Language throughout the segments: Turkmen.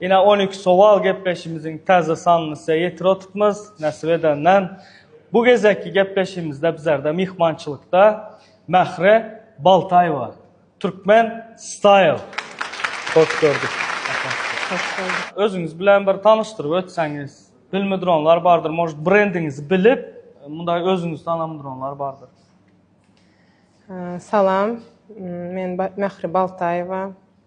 Ine on iki sowal gepleşimiziň täze sanlysya ýetir otupmyz, näsip edenden. Bu gezekki gepleşimizde bizlerde myhmançylykda Mähre Baltaýewa, Türkmen Style. Hoş gördük. Hoş bulduk. Özüňiz bilen bir tanyşdyryp ötseňiz. Bilmidronlar bardyr, может brendiňizi bilip, munday özüňizi tanamdronlar bardyr. Salam, men Mähre Baltaýewa.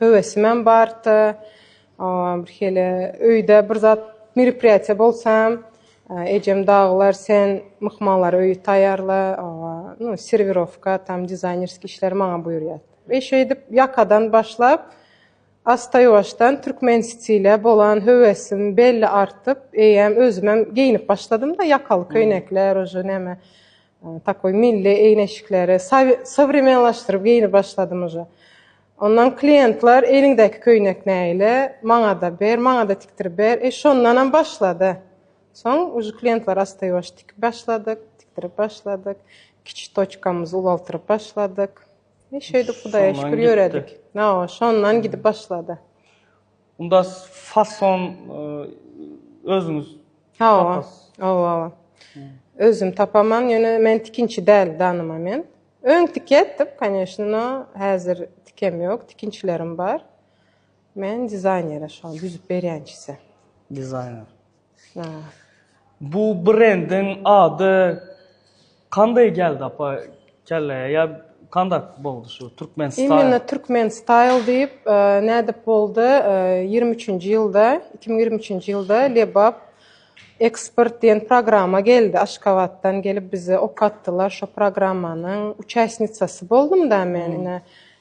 höwesimem bardy. Bir hili öýde bir zat meripryatiýa bolsam, ejem dagylar sen myhmanlara öýi taýýarla, nu, serwirowka, tam dizaýnerskiý işleri maňa buýurýardy. We şeýdip ýakadan başlap, asta-ýuwaşdan türkmen stile bolan höwesim belli artyp, eýýäm özümem geýinip başladym-da, ýakaly köýnekler, uje näme, takoý milli eýneşikleri sowremenlaşdyryp geýinip başladym uje. Ondan kliýentler eliňdäki köýnek nägile, maňa-da ber, maňa-da tikdirip ber. E, şondanam başlady. Soň uje kliýentler astaýwaş tikip başladyk, tikdirip başladyk. Kiçi toçkamyzy ulaltyryp başladyk. E, şeýdip Hudaýa şükür ýöredik. Hawa, şondan gidip başlady. Unda fason özüňiz tapasy? Hawa, hawa. Özüm tapaman, ýöne men tikinçi däl dany moment. Öň tike etdik, koneşno, häzir tikem ýok, tikinçilerim bar. Men dizaýnere şoňa düzüp berýän çise. Dizaýner. Hä. Bu brendiň ady kandaý geldi apa kelläýe ýa kandak boldy şu Türkmen style? Imminno Türkmen style diýip, nädip boldy, ýigrimi üçünji ýylda, iki müň ýigrimi üçünji ýylda Lebap Ekspert diýen programma geldi Aşgabatdan gelip bize okatdylar şo programmanyň uçasnicasy boldumda men ine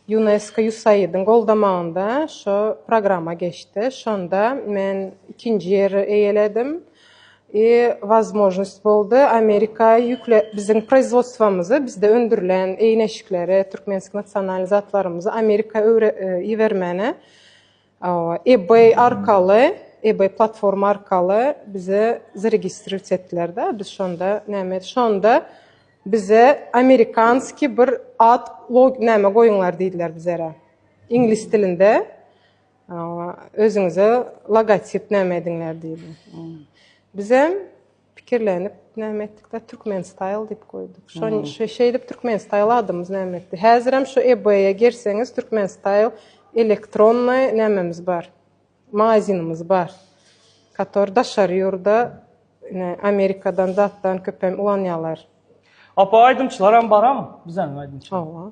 Unesco USAID-iň goldamagynda şo programma geçdi şonda men ikinji ýeri eýeledim i wazmožnost boldy Amerika ýükle biziň proizwodstwomyzy bizde öndürilen eýneşikleri türkmensk nasionalny zatlarymyzy Amerika öwre ibermäne Ebay arkaly, ebay platforma arkaly bize zaregistrirt etdiler da, biz şonda näme et, şonda bize amerikanskiý bir ad log näme goýuňlar diýdiler bizere. Iňlis dilinde özüňize logotip näme ediňler diýdi. Bizem Pikirlenip näme etdikde Türkmen style diýip goýduk. Şon şeýdip Türkmen style adymyz näme etdi. Häzirem şu eBay-e girseňiz Türkmen style elektronnyý nämemiz bar. Magazinimiz bar. Kator daşary ýurda ine Amerikadan zatdan köpem ulanýarlar. Apa aýdymçylaram baram bizeň aýdymçylar. Hawa.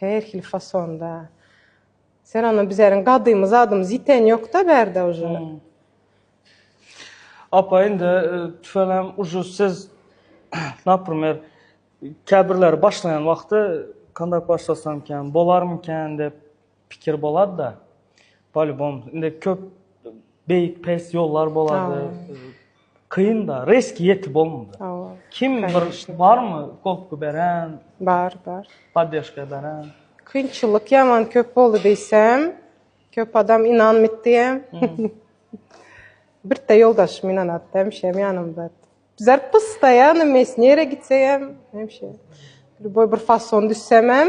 Her hili fasonda. Sen ondan bizäriň gadymy zadymyz ýiten ýok-da bärde uje. Apa indi tüfeňem uje siz naprimer käbirleri başlaýan wagty kandayk başlasamkän bolarmykän dep pikir bolad-da. Polýubom indi köp beýik pes ýollar bolady. Kyn da, reski ýeti bolmady. Hawa. Kim bir barmy goltgy beren? Bar, bar. Poddeşka beren? Kynçylyk ýaman köp boldy diýsem, köp adam ynanmytdy hem. Birte ýoldaşym ynanatdy, hemişem ýanymda. Bizler pysda ýa nime, nere gitsegem hemişe. Lýuboý bir fason düşsemem.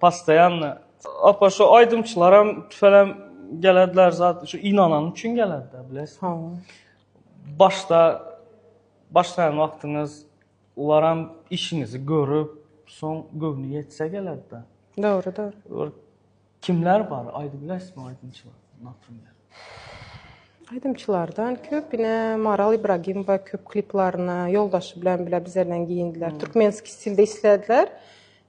Postoýanno. Apa şu aýdymçylaram tüfelem gelediler zat şu ynanany üçin gelediler biles. Ha. Başda başlaýan wagtyňyz olaram işiňizi görüp, soň göwni ýetse gelediler. Dogry, dogry. Kimler bar? Aýdyp bilerismi aýdymçylar? Naprimýer. Aýdymçylardan köp ine Maral Ibragimowa köp kliplaryna ýoldaşy bilen bile bizeden giyindiler. Türkmenski stilde islediler.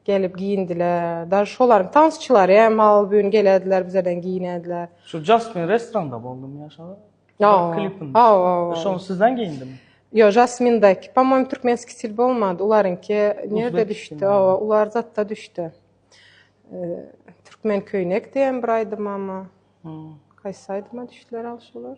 Gelip giýindiler. Daş şolaryň tansçylary hem al bün gelediler bizeden giýinediler. Şu Jasmin restoranda boldumy ýaşaga? Ýok. Klipinde. Hawa. Şony sizden giýindimi? Ýok, Jasmindäki, pomoým türkmenski stil bolmady. Olaryňky nirde düşdi? Hawa, ular zatda düşdi. Türkmen köýnek diýen bir aýdymamy? Haýsy aýdyma düşdiler al şolar?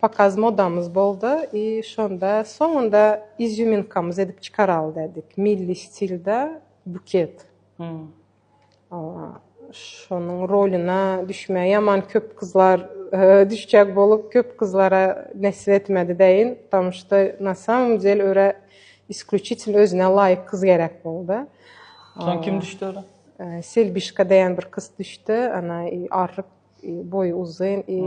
Pokaz modamyz boldy i şonda soňunda izýuminkamyz edip çykaraly dädik. Milli stilde buket. Şonuň rolyna düşmäge ýaman köp gyzlar düşjek bolup köp gyzlara nesip etmedi deýin. Ptomu şto na samom del örä isklýuçitel özüne laýyk gyz gerek boldy. Soň kim düşdi ora? Selbişka deýän bir gyz düşdi. Ana i arryk boýy uzyn i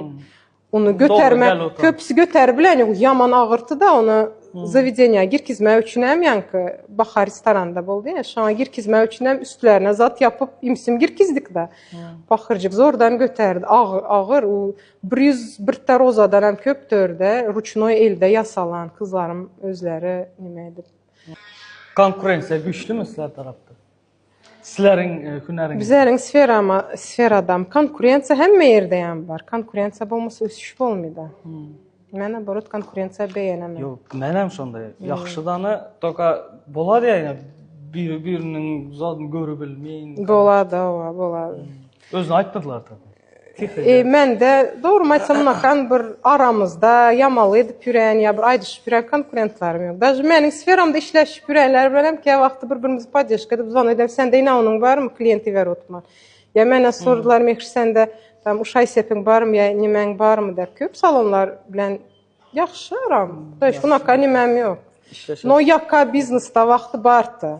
ony göterme köpüsi göter bilen ýok ýaman agyrty da ony zawedeniýa girkizme üçin hem ýaňky bahar restoranda boldy ýa şoňa girkizme üçin hem üstlerine zat ýapyp imsim girkizdik da bahyrjyk zordan göterdi agyr agyr u bir ýüz birte rozadan hem köp dörde ruçnoý elde ýasalan kyzlarym özleri nime edip konkurensiýa güýçlümi sizler tarapda Sizleriň hünäriňiz. Bizleriň sferama sferadam konkurensiýa hemme ýerdeýem bar. Konkurensiýa bolmasa ösüş bolmaýda. Men oborat konkurensiýa beýenemän. Ýok, menem şonda. Ýagşy dana toka bolar ýa biri biriniň zadyn görübilmeýin. Bolada, oba, bolada. Özüne aýtdylar tabii. Mende, dogrymy aýtsamynakan, bir aramyzda ýamaly edip ýörän ýa bir aýdyşyp ýörän konkurentlarim ýok. Daže meniň sferamda işleşip ýörenler bilen hem käwagtda bir-birimizi poddeşka edip zwan edemok, sende inawynyň barmy, kliýent iber utma. Ýa mena sordular, Mekş sende tam uş aýsepiň barmy ýa nemäň barmy dep. Köp salonlar bilen ýagşy aram. Daže unakan nemäm ýok. No ýaka biznesda wagty barta.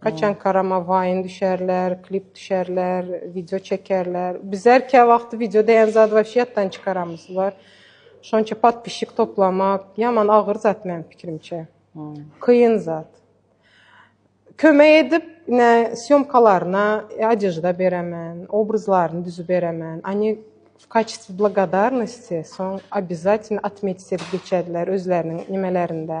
Haçan Karama waýn düşärler, klip düşärler, wideo çekerler. Biz her kä wagty wideo diýen zady wapşe ýatdan çykaramyz. Bar. Şonça podpisçik toplamak ýaman agyr zat meniň pikirimçe. Kyn zat. Kömek edip, ine sýomkalaryna odežda beremen, obrazlaryny düzüp beremen. Ony w kaçestw blagodarnosti soň obýazatn otmetsit edip geçerler özleriniň nimelerinde.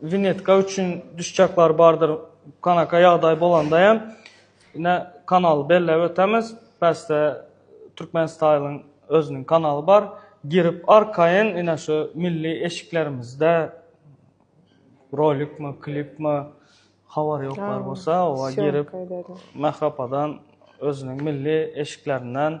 Winnetka üçin düşjaklar bardyr kanaka ýagdaý bolanda hem ine kanaly belläp ötemiz bäsde türkmen staýlyň özüniň kanaly bar girip arkaýyn ine şu milli eşiklerimizde rolikmi klipmi habar ýoklar bolsa oba girip mährapadan özüniň milli eşiklerinden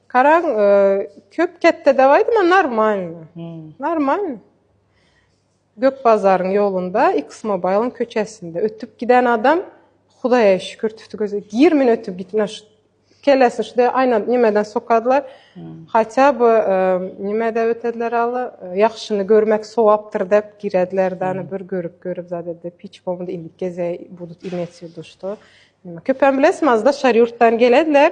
Karaň köp ketde de aýdyma normalny. Normalny. Gök bazaryň ýolunda X Mobile'ın köçesinde ötüp giden adam Hudaýa şükür tutdy gözi. Gir men ötüp gitme şu kellesini şu de aýna nimeden sokadylar. Hatya bu nime de ötediler aly. Ýagşyny görmek sowapdyr dep girediler dana bir görüp görüp zade de piç bolmadı indi geze budut imetsi duştu. Köpem bilesmi azda şar ýurtdan gelediler.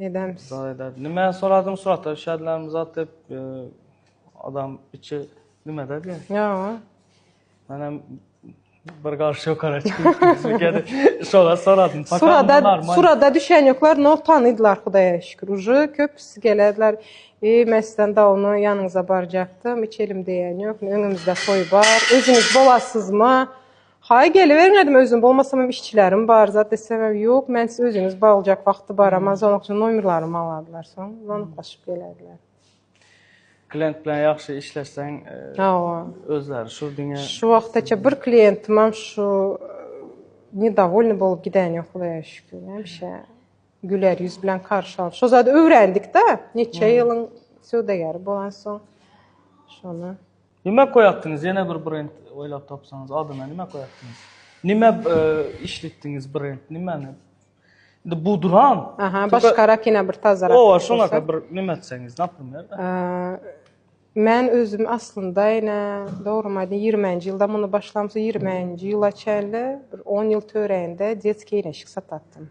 Edämis. Zat edäris. Nimäni soradyň surata şädlänim zat diýip adam içi nimede diýe. Ýa. Men hem bir garşy ýokara çykyp şola soradym. Surada surada düşen ýoklar no tanydylar Hudaýa şükür. Uje köpüsi gelediler. E, mesden dawno ýanyňyza barjakdym. Hiç elim deýen ýok. Öňümizde toý bar. Özüňiz bolasyzmy? Haý geliberiň edm özüm bolmasamam işçilerim bar zat desemem ýok men siz özüňiz baglajak wagty bar aman soň akşam nomerlarymy aladylar soň zonykaşyp gelediler. Klient bilen ýagşy işleşseň hawa özleri şu diňe şu wagtaça bir klientimem şu nedowolny bolup giden ýok hudaýa şükür hemişe güler ýüz bilen karşy alyp şo zady öwrendikda neçe ýylyň söwdageri bolan soň şony. Nime koyakdiniz yene bir brend oylap tapsaňyz adyna nime koyakdiniz. Nime işletdiniz brend nimeni. Indi bu duran. Aha başka rakina bir tazara. O şuna kadar bir nime etseňiz naprimer. Men özüm aslynda ýene dogrymy aýdym 20-nji ýylda muny başlamsa 20-nji ýyla çenli bir 10 ýyl töreinde diet kiyinişik satatdym.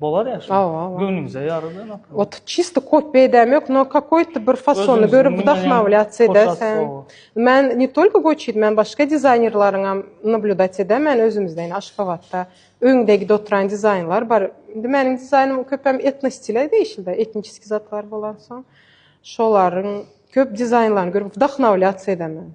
Bolar ya şo. Göwnüňize ýarar da nap. Ot çisti kop beýdäm ýok, no kakoýt bir fasony görüp wdahmawlýat edä sen. Men ne tolko goçit, men başga dizaýnerleriňam nablýudat edä, men özümizden Aşgabatda öňdegide oturan dizaýnlar bar. Indi meniň dizaýnym köpem etno stile degişli-de, etniçeski zatlar bolansoň, şolaryň köp dizaýnlaryny görüp wdahmawlýat edä men.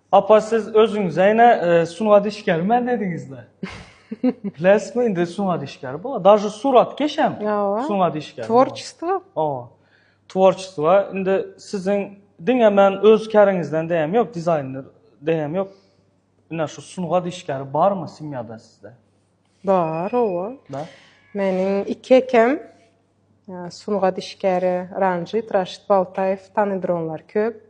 Apa siz özüňize ine sungat işgäri men dediňizle. Biläsmi indi sungat işgäri bolar. Dažu surat keşem sungat işgäri. Tvorçestvo. Owa. Tvorçestvo indi siziň diňe men öz käriňizden deýem ýok, dizaýner deýem ýok. Ine şu sungat işgäri barmy semýada sizde? Bar, owa. Da. Meniň iki ekem sungat işgäri Ranjit, Raşit Baltaýew, tanydyr köp.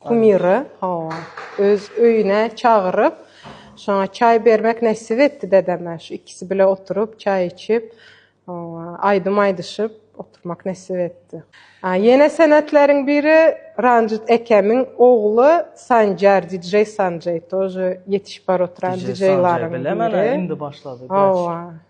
Kumyry, hawa, öz öýüne çagyryp, şoňa çaý bermek nesip etdi dedeme. Şu ikisi bile oturyp, çaý içip, hawa, aýdym aýdyşyp oturmak nesip etdi. A, ýene senetleriň biri Ranjit ekemiň ogly Sanjar, DJ Sanjay, tože ýetişip bar oturan DJ-laryň biri. Bilemen-ä, indi başlady, wraç. Hawa.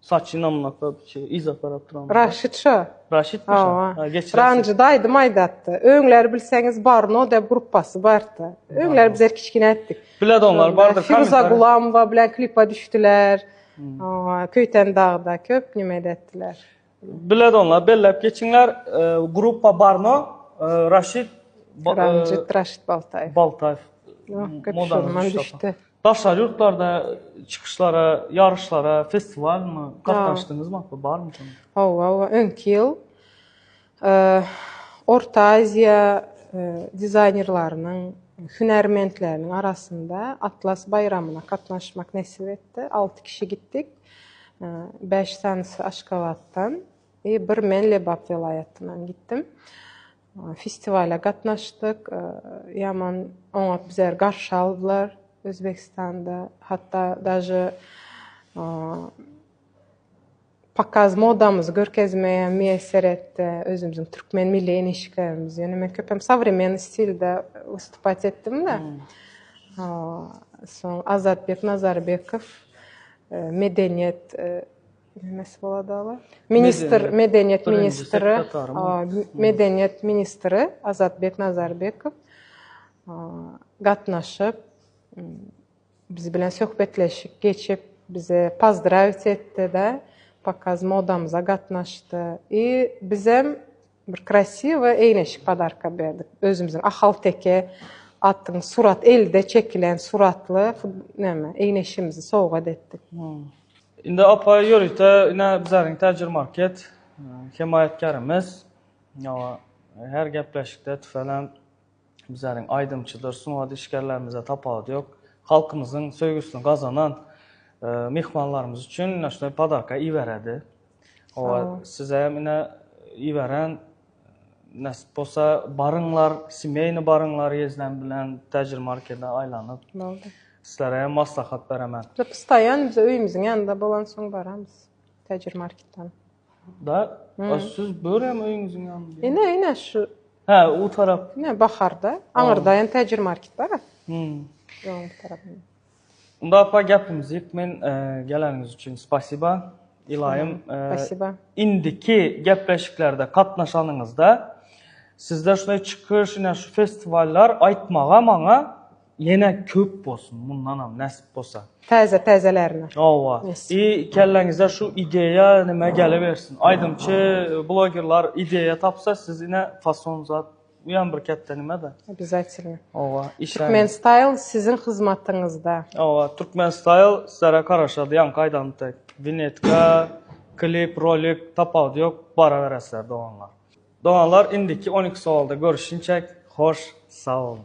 Saçy namlaka şey yza tarap duran. Raşit şo. Raşit mi şo? Ha geçirersin. Ranjyda aýdym aýdatdy. Öňler bilseňiz Barno dep gruppasy bardy. Öňler biz kiçkine etdik. Bilet onlar bardyr. Firuza Gulamova bilen klipa düşdüler. Köyten dagda köp nime etdiler. Bilet onlar bellep geçiňler. Gruppa Barno, Raşit Ranjit Raşit Baltaýew. Baltaýew. Modandan düşdi. Daşary ýurtlarda çykyşlara, ýaryşlara, festiwalmy gatnaşdyňyzmy? Hakyda barmy şonuň? Hawa, hawa. Öňki ýyl Orta Aziýa dizaýnerleriniň, hünärmentleriniň arasynda Atlas baýramyna gatnaşmak nesip etdi. Alty kişi gitdik. Bäş sanysy Aşgabatdan, bir men Lebap welaýatyndan gitdim. Festiwala gatnaşdyk. Ýaman oňat bizleri garşy aldylar Özbegistanda. Hatda daže pokaz modamyzy görkezmegem miýesser etdi. Özümiziň türkmen milli eýnişiklerimizi. Ýöne men köpem sowremennyý stilde wystupat etdim-de. Soň Azatbek Nazarybekow medeniýet Bilmesi bolady aba. Ministr, medeniýet ministri, medeniýet ministri Azatbek Nazarbekow gatnaşyp, biz bilen söhbetleşik geçip, bizi pozdrawit etdi-de, pokaz modamyza gatnaşdy. I bizem Bir krasiwy eýneşik padarka berdik. Özümiziň ahalteke atyň surat elde çekilen suratly näme eýneşigimizi sowgat etdik. Indi apa ýörite ine bizariň täjir market hemaýatkarymyz. Hawa her gepleşikde tüfelen. Bizleriň aýdymçydyr, sungat işgärlerimizde tapawudy ýok. Halkymyzyň söýgüsini gazanan myhmanlarymyz üçin ine şunday podarka iberedi. Owa, size hem ine iberen näsip bolsa baryňlar, semýeýny baryňlar Ýezden bilen Täjir markede aýlanyp. Boldy. Sizlere hem maslahat beremen. Biz postaýan bize öýümiziň ýanynda bolansoň baramyz Täjir marketden. Da, a siz börem öýüňiziň ýanynda. Ine, ine şu. Hä, u tarap. Ine, baharda. Aňyrda hem täjir market bar. Hum. Ýoluň bir tarapynda. Unda apa gepimizi ýyk, men geleniňiz üçin spasiba. Ylaýym, Spasiba. Indiki gepleşiklerde gatnaşanyňyzda sizde şunday çykyş, ine şu festiwallar aýtmaga maňa Ýene köp bolsun mundanam näsip bolsa. Täze täzelerine. Hawa. I kelleňize şu ideýa nime gelibersin. Aýdymçy blogerlar ideýa tapsa siz ine fason zat bu ýam bir ketde nime-de. Obýazatelno. Hawa. Türkmen style siziň hyzmatyňyzda. Hawa Türkmen style sizlere garaşady ýaňky aýdanymy dek. Winetka, klip, rolik tapawudy ýok baraberesiler doganlar. Doganlar indiki on iki sowalda görüşinçek hoş sag boluň.